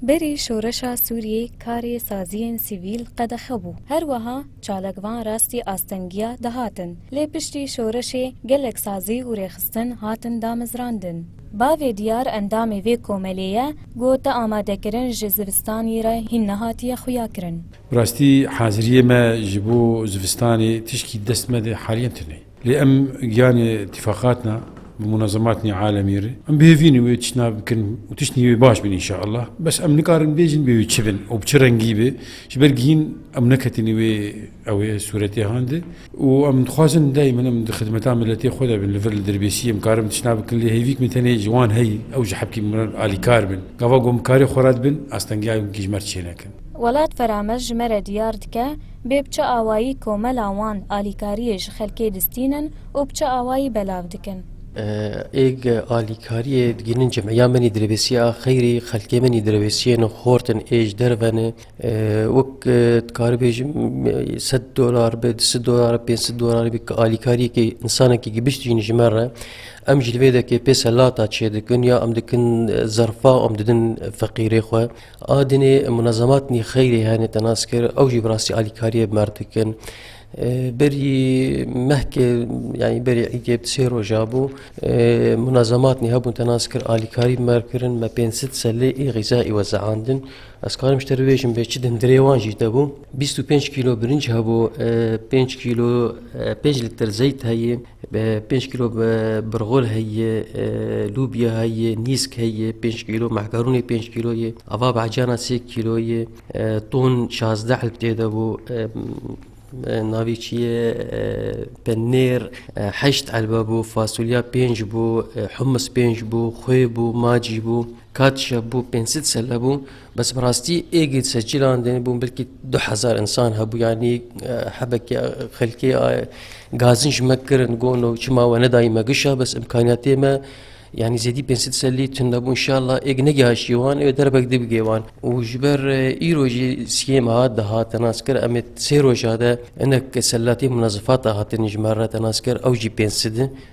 Berî şoreşa Sûriyê karê saziyên sivîl qedexe bû. Her wiha çalak van rastî astengiya dihatin. Lê piştî şoreşê gelek sazî û rêxistin hatin damezrandin. Bavê Diyar endamê vê komelê ye, got di amadekirin ji zivistanî re hîn nehatiye xuyakirin. Bi rastî haziriyê me ji bo zivistanê tişkî dest me de haliyen tune ye. Lê em giyanê tîfaqat na bi munezematnê alemî re em bihêvînê wê tiştna bikin û tiştnî wê baş bin înşeallah. Bes em nikarin bêjin bê wê çi bin û bi çi rengî be ji ber gihîn em neketînê wê ew ê sûretê han de û em dixwazin dayîmen em di xidmeta miletê xwe de bin. Li vir li dirbêsî em karin tiştna bikin lê hêvîk min tenê ji wan heye ew ji hepkî min re alîkar bin. Gava ku em bi karê xwe re dibin astengiyayê winkî ji me re çênekin. Welat Ferames ji me re diyar dike bê bi çi awayî komela wan alîkariyê ji xelkê distînin û bi çi awayî belav dikin. Êg alîkariyê digihînin cem ya min î dirêbêsîya xeyrî xelkê min î dirêbêsîyên xort in ê ji derve ne wek dikari bêjim sed dolar be di sid dolar be pênc sid dolar be ki alîkariyekê însanekî gibişt jîn ji min re em ji li vê dekê pê selata çêdikin ya em dikin zerfa em didin feqîrê xwe Adinê munezematnî xeyrê hene te nas kir ew jî bi rastî alîkariyê bi merv dikin. Berî mehkê yanî berî îdê bi sê roja bû munezematnî hebûn te nas kir alîkarî bi merv kirin me pênc sid selê ê xîza ê we zeandin. Ez karim ji te bibêjim bê çi din dirê wan jî te bû. Bîst û pênc kîlo birinc hebû, pênc kîlo pênc lîtir zeyt heye, Pênc kîlo birxûr heye, lûbya heye, nîsk heye pênc kîlo, mehkarûnê pênc kîlo ye, ava behcana sê kîlo ye, ton şazdeh elf tê de bû, navê çi ye penêr heşt elf bû, fasulya pênc bû, humus pênc bû, xwê bû, macî bû, Katişa bû pênc sed selle bû bes bi rastî êgid seçîlan dê bûn belkî du hezar însan hebû yanî hebekê xelkê gazin ji me kirin gon û çima we nedayî me gişa bes imkaniyatê me yanî zêdî pênc sed sellî tun nebû inşallah êg negihaşî wan ê derbek dibigê wan û ji ber îro jî siyêm hat dihat nas kir em ê sê roja de hinek sellatê munezifata hatin ji me re nas kir ew jî pênc sed in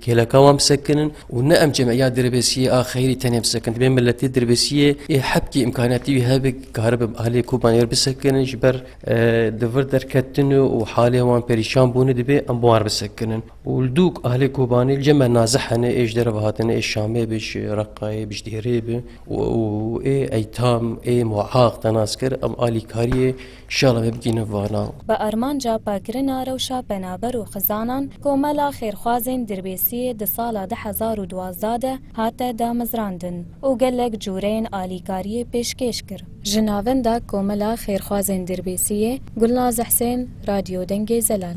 Kêleka wan bi sekinin û ne em cemeya dirbêsiyê a xeyrî tenê bi sekin. Divê miletê dirbêsiyê ê hebkê îmkaniyatî wî hebe karibe aliyê Koban êr bi sekinin ji ber di vir derketin û halê wan perîşan bûnê divê em bi wan re bi sekinin. Û li dûk aliyê Kobanê li cem me naze hene ê ji dere ve hatine ê Şamê bi ji Reqayê bi ji Dêrê bi û ê Eytam ê Muaq te nas kir em alîkariyê Şala me bigihîne vana. Bi armanca paqirina rewşa penaber û xizanan, Komela Xêrxwazên Dirbêsiyê di sala du hezar û duwazdeh de hate damezrandin û gelek cureyên alîkariyê pêşkêş kir. Ji navenda Komela Xêrxwazên Dirbêsiyê, Gulnaz Husên, Radyo Dengê Zelal.